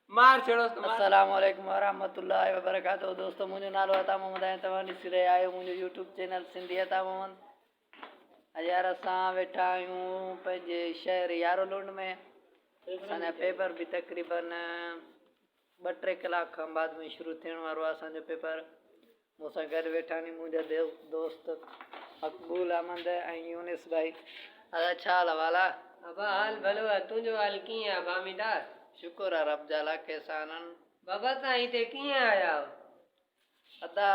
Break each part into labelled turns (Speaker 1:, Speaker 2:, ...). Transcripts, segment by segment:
Speaker 1: السلام عليڪم ورحمة
Speaker 2: الله وبرڪاته دوستو منهنجو نالو عطا محمد آهي ۽ توهان ڏسي رهيا آهيو منهنجو يوٽيوب چينل سنڌي عطا محمد هينئر اسان ويٺا آهيون پنهنجي شهر يارو لونڊ ۾ اسان جا پيپر به تقريبن ٻه ٽي ڪلاڪ کان بعد ۾ شروع ٿيڻ وارو آهي اسانجو پيپر مون سان گڏ ويٺا ني منهنجا دوست مقبول احمد ۽ يونس ڀائي. ادا ڇا حال احوال آ. ابا حال ڀلو
Speaker 1: آ تنهنجو حال ڪيئن آ بااميدا. شڪر آ رب
Speaker 2: جا لاک احسانن. بابا تان هتي
Speaker 1: ڪيئن آيا آهو. ادا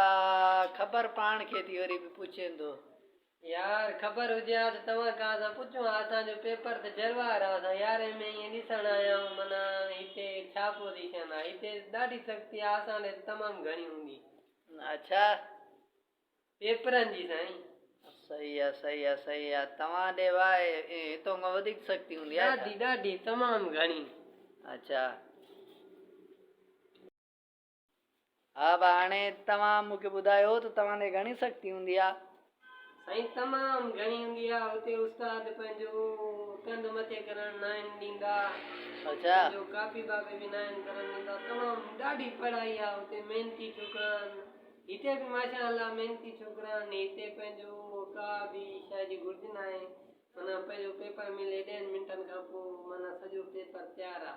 Speaker 2: خبر پاڻ کي ٿي وري به پڇين ٿو. يار
Speaker 1: خبر هجي ها ته توهان کان اسان پڇون ها اسان جو پيپر ته جروار ها اسان يارهين ۾ ائين ڏسڻ آيا آهيون معنيٰ هتي ڇا پوزيشن آهي هتي ڏاڍي سختي آهي اسان ڏي ته تمام گهڻي هوندي اڇا پيپرن جي سائين. صحيح آ
Speaker 2: صحيح آ صحيح آ توهان ڏي واء هتون کان وڌيڪ سختي هوندي آهي ڏاڍي ڏاڍي تمام
Speaker 1: گهڻي اڇا.
Speaker 2: ها ڀاء هاڻي توهان مون کي ٻڌايو ته توهان تي گهڻي سختي هوندي آ. سائين
Speaker 1: تمام گهڻي هوندي آ هتي استاد پنهنجو ڪنڌ مٿي ڪرڻ ناهن ڏيندا اڇا. پنهنجو
Speaker 2: ڪاپي باپي
Speaker 1: به ناهن ڪرڻ ڏيندا تمام ڏاڍي پڙهائي آ هتي محنتي ڇوڪرا آهن هتي به ماشاء الله محنتي ڇوڪرا آهن هتي پنهنجو ڪا به شئي جي گهرج ناهي معنيٰ پنهنجو پيپر ملي ڏهن منٽن کان پوء معنيٰ سڄو پيپر تيار آ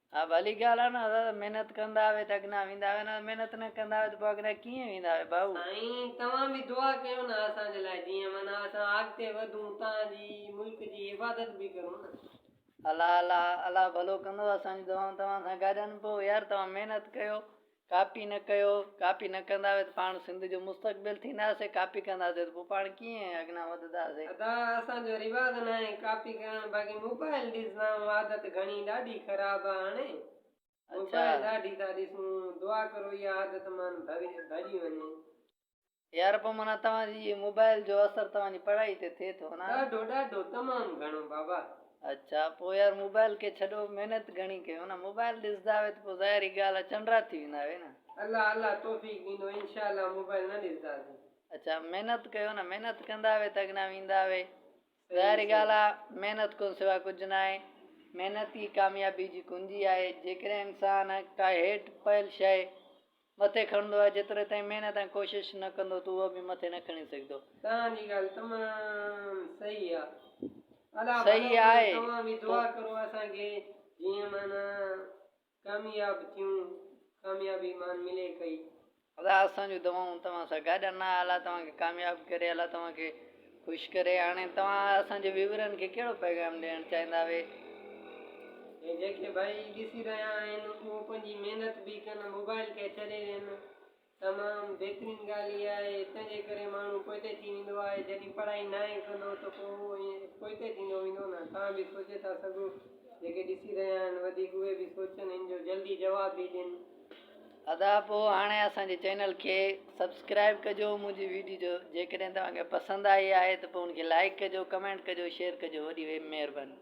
Speaker 1: ها ڀلي ڳالهه
Speaker 2: آهي نه حضرت محنت ڪندا هوي ته اڳنا ويندا هوي نه محنت نه ڪندا هوي ته پوء اڳنا ڪيئن ويندا هوي ڀائو. سائين توهان به
Speaker 1: دعا ڪيو نه اسان جي لاء جيئن معنيٰ اسان اڳتي وڌون تان جي ملڪ جي حفاظت به ڪرون نه. الله
Speaker 2: الله الله ڀلو ڪندو اسان جون دعائون توهان سان گڏ آهن پوء يار توهان محنت ڪيو ڪاپي نه ڪيو، ڪاپي نه ڪنداسين ته پاڻ سنڌ جو مستقبل ٿينداسين، ڪاپي ڪنداسين ته پوء پاڻ ڪيئن اڳيان وڌنداسين؟ ادا اسان جو
Speaker 1: رواز ناهي ڪاپي ڪرڻ باقي موبائل ڏسدائون عادت گهڻي ڏاڍي خراب آ هاڻي موبائل ڏاڍي ٿا ڏسون دعا ڪرو اها عادت مان ڀڄي وڃي. يار
Speaker 2: پو معنيٰ توهان جي اهي موبائل جو اثر توهان جي پڙهائي تي ٿئي ٿو نه. ڏاڍو ڏاڍو تمام
Speaker 1: گهڻو بابا. اڇا پو
Speaker 2: يار موبائل کي ڇڏو محنت گهڻي ڪيو نه موبائل ڏسدا آهيو ته پو ظاهر ئي ڳالهه آ چنڊرا ٿي ويندا آهيو نه. الله الله توفيق
Speaker 1: ڏيندو انشاء الله موبائل نه ڏسداسين. اڇا محنت
Speaker 2: ڪيو نه محنت ڪندا آهيو ته اڳنا ويندا آهيو ظاهر ئي ڳالهه آ محنت کون سوا ڪجهه نه آهي محنت ئي ڪاميابي جي ڪنجي آهي جيڪڏهن انسان ڪا هيٺ پيل شيء مٿي کڻندو آهي جيتري تائين محنت ۽ ڪوشش نه ڪندو ته اهو به مٿي نه کڻي سگهندو. توهان جي ڳالهه
Speaker 1: تمام صحيح آ. الله ڀلو ڪري
Speaker 2: توهان به دعا ڪرو
Speaker 1: اسان کي جيئن معنيٰ ڪامياب ٿيون ڪاميابي مان ملي ڪئي. الله اسان
Speaker 2: جون دعائون توهان سان گڏ آهن الله توهان کي ڪامياب ڪري الله توهان کي. خوش ڪري هاڻي توهان اسان جي ويورن کي ڪهڙو پيغام ڏيڻ چاهيندا وي.
Speaker 1: ۽ جنهن کي ڀائي ڏسي رهيا آهن اهو پنهنجي محنت به ڪن موبائل کي ڇڏي ڏين تمام بهترين ڳالهه اها آهي هتن جي ڪري ماڻهو پوئتي ٿي ويندو آهي جڏهن پڙهائي ناهي ڪندو ته پوء اهو ائين پوئتي ٿيندو ويندو نه توهان به سوچي ٿا سگهو جيڪي ڏسي رهيا آهن وڌيڪ اهي به سوچن هن جو جلدي جواب به ڏين. ادا پو هاڻي اسان
Speaker 2: جي چينل کي سبسڪرائب ڪجو منهنجي ويڊيو جيڪڏهن توهان کي پسند آئي آهي ته پو ان کي لائڪ ڪجو ڪمينٽ ڪجو شيئر ڪجو وڏي مهرباني.